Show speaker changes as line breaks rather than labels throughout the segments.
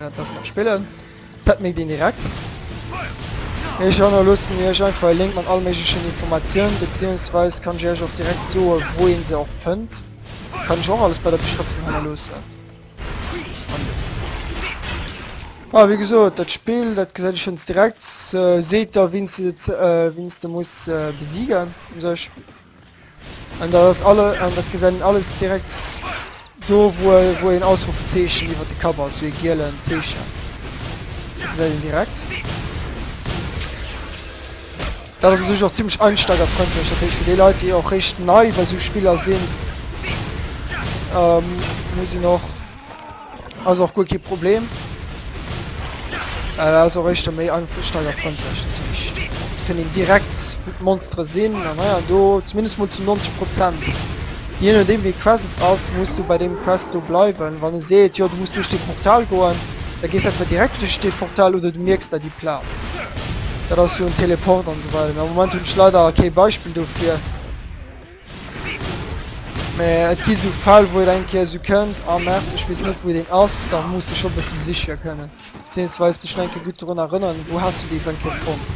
Dat ass nach spillen. Dat mécht een direkt. Ech hannerloossen mir iech einfach e Link mat all méiglechen Informatioun, beziehungsweise kann ech iech och direkt soen wou een se och fënnt. Kann ech och alles bei der Beschrëftung hannerloossen. Ah, wéi gesot, dat Spill, dat gesäit ech schons direkt. Seet der wien s de, wien s de muss besiegen, un sech. An dat ass alle, an dat gesäit een alles direkt do, wou e, wou een Ausrufezeechen iwwert de Kapp ass, wéi e gielen Zeechen. Dat gesäit een direkt. Dat ass u sech och zimmlech einsteigerfreundlech, dat heescht fir déi Leit, déi och réischt nei bei esou Spiller sinn, ähm, muss een och. Ass och guer kee Problem. Well ass och éischter méi einsteigerfreundlech. Dat heescht, et fënnt een direkt wou d'Monstere sinn an hei an do, zumindest mol zu 90 Prozent. Jee nodeem wéi d'Quest et ass, muss du bei deem Quest do bleiwen. Wann e seet, jo du muss duerch dee Portal goen, da gees entweder direkt duerch dee Portal oder du mierks der déi Plaz. Dat ass jo en Teleport an esou weider. Mä am Moment hunn ech leider kee Beispill dofir. Mä et gi sou Fäll wou et eng Kéier sou kënnt, ah Merd ech weess net wou deen ass, da muss de scho bësse siche kënnen, bezéiungsweis dech nach eng Kéier gutt drun erënneren, wou has du dee fir eng Kéier fonnt.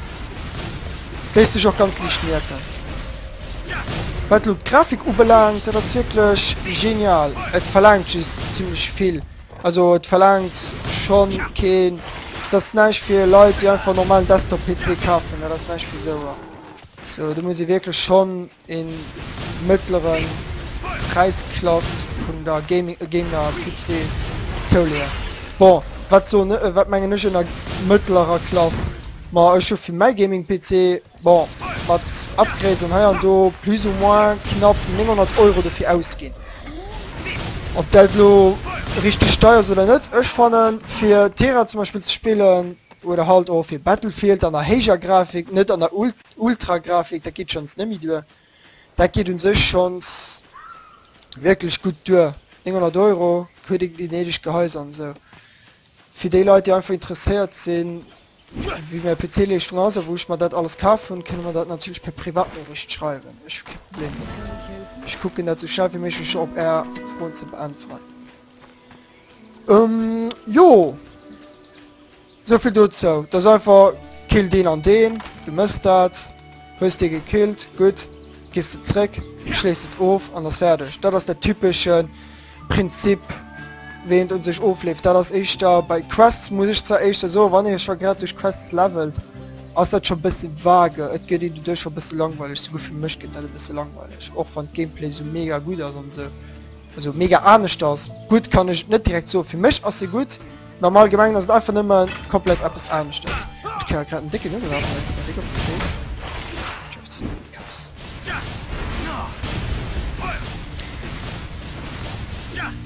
Wéis dech och ganz liicht mierken. Wat elo d'Grafik ubelaangt, dat ass wierklech genial. Et verlaangt just zimmlech vill, also et verlaangt schonn keen, dat ass näischt fir Leit déi einfach e normalen Desktop-PC kafen, dat ass näischt fir souer. So do muss ee wierklech schonn e mëttlere Präisklass vun der Gaming a Gamer PCs zouleeën. Bon, wat soen, wat mengen ech ënner mëttlerer Klass? Ma ech hu fir mäi Gaming PC, bon, mat Upgrades an hei an do, plus ou moins knapp 900 Euro dofir ausginn. Ob dat elo richteg deier ass oder net, ech fannen fir Tera zum Beispill ze spillen, Oder halt och fir Battlefield dann a héijer Grafik, net an der Ultragrafik, dat geet schonns net méi duer. Dat geet un sech schonns wierklech gutt duer, 900 Euro, huet een déi néideg Gehäuser an esou. Fir déi Leit déi einfach interesséiert sinn wéi mäi PC-Leeschtung ass a wou ech mer dat alles kaf hunn, kënne mer dat natierlech per Privatnoriicht schreiwen, ech hu kee Problem domat. Ech kucken dat esou schnell wéi méiglech op är Froen ze beäntweren. Ähm, jo. Sou vill dozou. Dat ass einfach, kill deen an deen, du mëss dat, hues dee gekillt, gutt, gees de zréck, schléis et of an ass fäerdeg. Dat ass dat typesche Prinzip, wéi een et u sech ofleeft. Dat ass éischter bei Quests, muss ech zwar éischter soen, wann ee scho grad duerch Quests levelt, ass dat scho e bësse vage, et gëtt een doduerch scho e bësse langweileg, souguer fir mech gëtt dat e bësse langweileg, och wann d'Gameplay sou mega gutt ass an esou. Also mega aneschters, gutt kann ech et net direkt soen. Fir mech ass se gutt, mee am Allgemengen ass et einfach nëmme komplett eppes aneschters. Ech kréie grad en décken Nuddel ab, mä komplett déck op de Féiss. Just krass.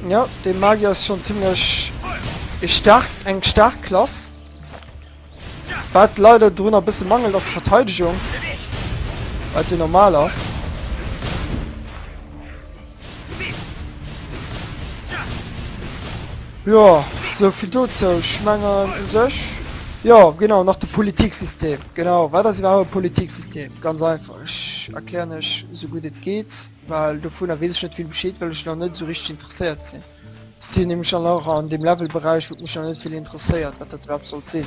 Ja, de Magier ass schonn zimmlech e staark, eng staark Klass. Wat leider dorunner e bësse mangelt ass d'Verteidegung, wat jo normal ass. Jo, sou vill dozou. Ech mengen u sech, jo genau, nach de Politiksystem. Genau, wat ass iwwerhaupt e Politiksystem? Ganz einfach, ech erklären lech esou gutt et geet, well dovunner weess ech net vill Bescheed, well ech nach net esou richteg interesséiert sinn. Si hunn nämlech dann och an deem Levelberäich, huet mech nach net vill interesséiert, wat dat iwwerhaapt sollt sinn.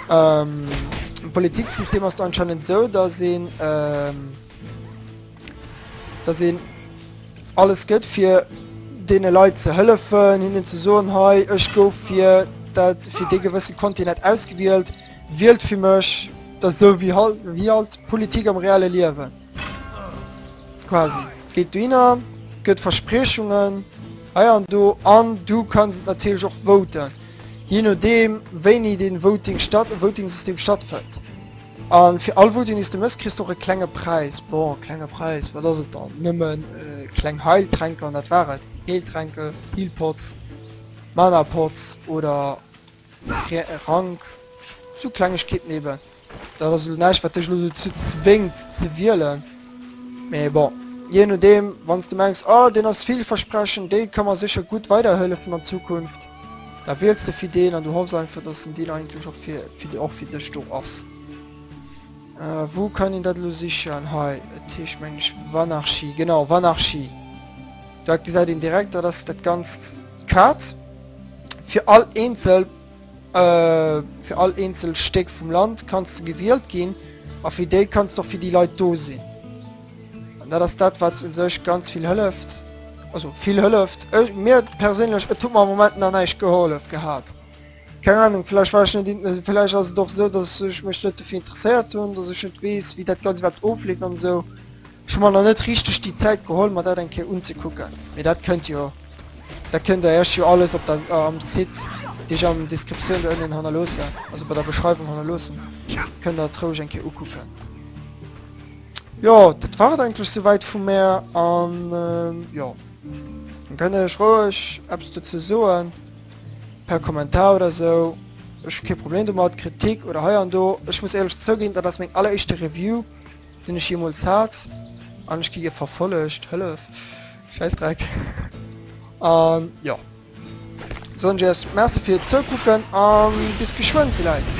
Ähm, um Politiksystem ass do anscheinend esou, dass een, ähm, dass een alles gëtt fir deene Leit ze hëllefen, hinnen ze soen, hei, ech gouf fir dat, fir dee gewësse Kontinent ausgewielt, wielt fir mech, dat ass esou wéi halt, wéi halt d'Politik am reelle Liewen. Quasi. Geet dohinner, gëtt Verspriechungen, hei an do, an du kanns et natierlech och voten, jee nodeem wéini den Voting statt, Votingsystem stattfënnt. A fir all Voting dees du mëss kriss du och e klenge Präis. Bon, klenge Präis, wat ass et dann? Nëmmen kleng Heiltränker, an dat war et. Heeltränke, Healpots, Manapots oder Fir e Rank, sou Klengegkeeten eben. Dat ass elo näischt, wat dech elo dozou zwéngt ze wielen. Mee bon, jee nodeem, wann s de mengs, oh, deen ass villversprechend, dee ka mer sécher gutt weiderhëllefen an Zukunft, da wiels de fir deen an du hoffs einfach, dass en deen eigentlech och fir, fir, och fir dech do ass. Äh, wou kann een dat elo sichen? Hei, et heescht, meng ech, Vanarchy. Genau, Vanarchy. Dat gesäit een direkt, dat ass dat Ganzt d'Kat. Fir all eenzel fir all eenzel Stéck vum Land kanns de gewielt ginn a fir déi kanns de och fir déi Leit do sinn. An dat ass dat, wat u sech ganz vill hëlleft. Also vill hëlleft. Ech, mir perséinlech, et huet mer am Moment nach näischt gehollef gehat. Keng Anung, vläicht war ech net int, vläicht ass et och esou, dass ech mech net dofir interesséiert hunn, dass ech net weess, wéi dat Ganzt iwwerhaapt ofleeft an esou. Ech hu mer nach net richteg déi Zäit geholl mer dat eng Kéier unzekucken, mee dat kënnt jo, dat kënnt der iech jo alles op der am Site, dee ech am Descriptioun do ënnen hannerloossen, also bei der Beschreiwung hannerloossen, kënnt der et roueg eng Kéier ukucken. Jo, dat war et eigentlech souwäit vu mär an jo, dann kënnt der iech roueg eppes dozou soen per Kommentar oder esou, ech hu kee Problem domat, Kritik oder hei an do. Ech muss éierlech zouginn, dat ass meng alleréischte Review. Sinn ech jeemools haart an ech gi gär verfollegt? Hëllef! Schäissdreck! A jo. Soen ech iech Merci fir d'Zoukucken a bis geschwënn villäit!